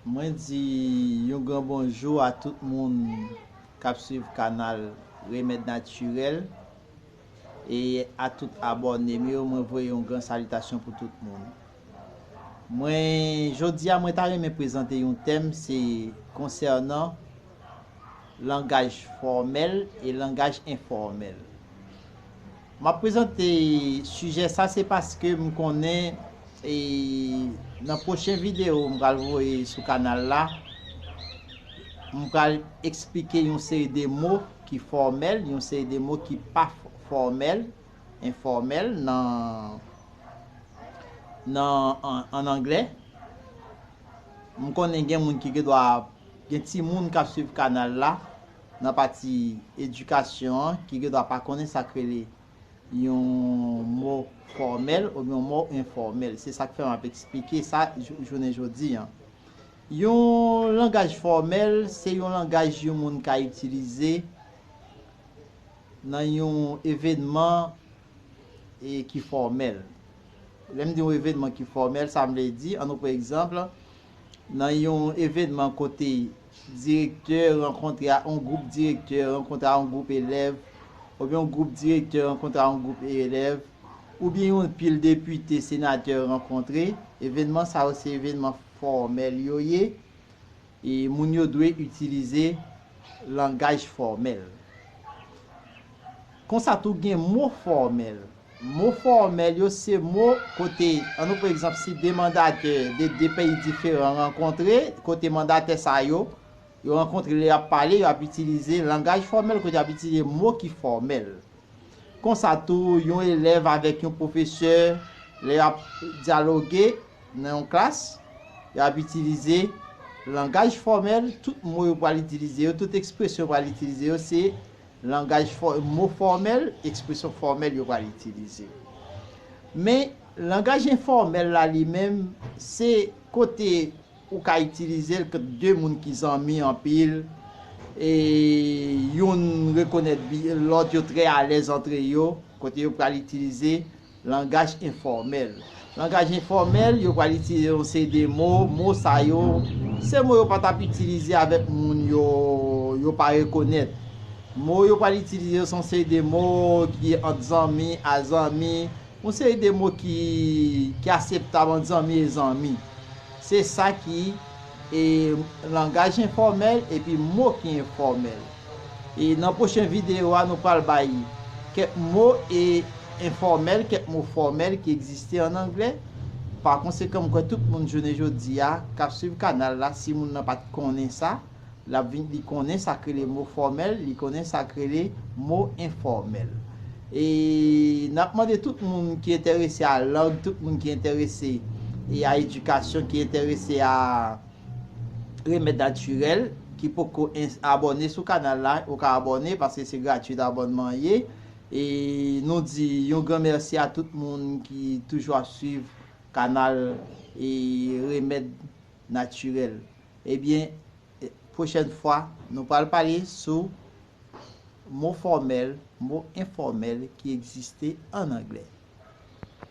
Mwen di yon gran bonjou a tout moun kap swiv kanal Remèd Natirèl e a tout abòne m yo mwen voye yon gran salitasyon pou tout moun. Mwen jodi a mwen ta renmen prezante yon tèm se konsènan langaj fòmèl e langaj enfòmèl. M ap prezante sijè sa se paske m konnen nan pwochen videyo m pral voye sou kanal la, m pral eksplike yon seri de mo ki fòmèl, yon seri de mo ki pa fòmèl, enfòmèl an anglè. M konnen gen moun ki gen dwa gen timoun k ap swiv kanal la. Nan pati edikasyon an, ki gen dwa pa konnen sa k rele yon mo fòmèl oubyen yon mo enfòmèl. Se sa k fè m ap esplike sa jounen jodi an. Yon langaj fòmèl se yon langaj yon moun ka itilize nan yon evènman ki fòmèl. Lè m di yon evènman ki fòmèl, sa vle di, an nou pran egzanp, nan yon evènman kote. Direktè rankontre a on gwoup direktè rankontre a on gwoup elèv oubyen on gwoup direktè rankontre a on gwoup elèv oubyen yon pil depite senatè rankontre evènman sa yo se evènman fòmèl yo ye e moun yo dwe itilize langaj fòmèl. Konsa tou gen mo fòmèl. Mo fòmèl yo se mo kote, an nou pran egzanp si 2 mandatè de 2 peyi diferan rankontre, kote mandatè sa yo, yo rankontre lè y ap pale, yo ap itilize langaj fòmèl kote y ap itilize mo ki fòmèl. Konsa tou, yon elèv avèk yon pwofesè, lè y ap dyaloge nan yon klas, y ap itilize langaj fòmèl, tout mo yo pral itilize yo, tout ekspresyon yo pral itilize yo se. Langaj fò, mo fòmèl, ekspresyon fòmèl yo pral itilize. Men, langaj enfòmèl la li menm, se kote ou ka itilize l kont de moun ki zanmi anpil, e youn rekonèt bi lòt, yo trè alèz antre yo, kote yo pral itilize Langaj enfòmèl Langaj enfòmèl, yo pral itilize yon seri de mo, mo sa yo, se mo yo pa t ap itilize avèk moun yo, yo pa rekonèt. Mo yo pral itilize yo se yon seri de mo ki ant zanmi a zanmi, yon seri de mo ki ki aseptab ant zanmi e zanmi. Se sa ki e langaj enfòmèl epi mo ki enfòmèl. E nan pwochen videyo a nou pral bay kèk mo e enfòmèl, kèk mo fòmèl ki egziste an anglè. Pa konsekan m kwè tout moun jounen jodi a k ap swiv kanal la si moun nan pa t konnen sa, l ap vin li konnen sa k rele mo fòmèl, li konnen sa k rele mo enfòmèl. E n ap mande tout moun ki enterese a lang, tout moun ki enterese e a edikasyon, ki enterese a. Remed natirel ki poko abone sou kanal la ou ka abone paske se gratuit abonman ye e nou di yon gran merci a tout moun ki toujou ap swiv kanal e remed natirel ebyen prochèn fwa nou pral pale sou mo fòmèl mo enfòmèl ki egziste an anglè.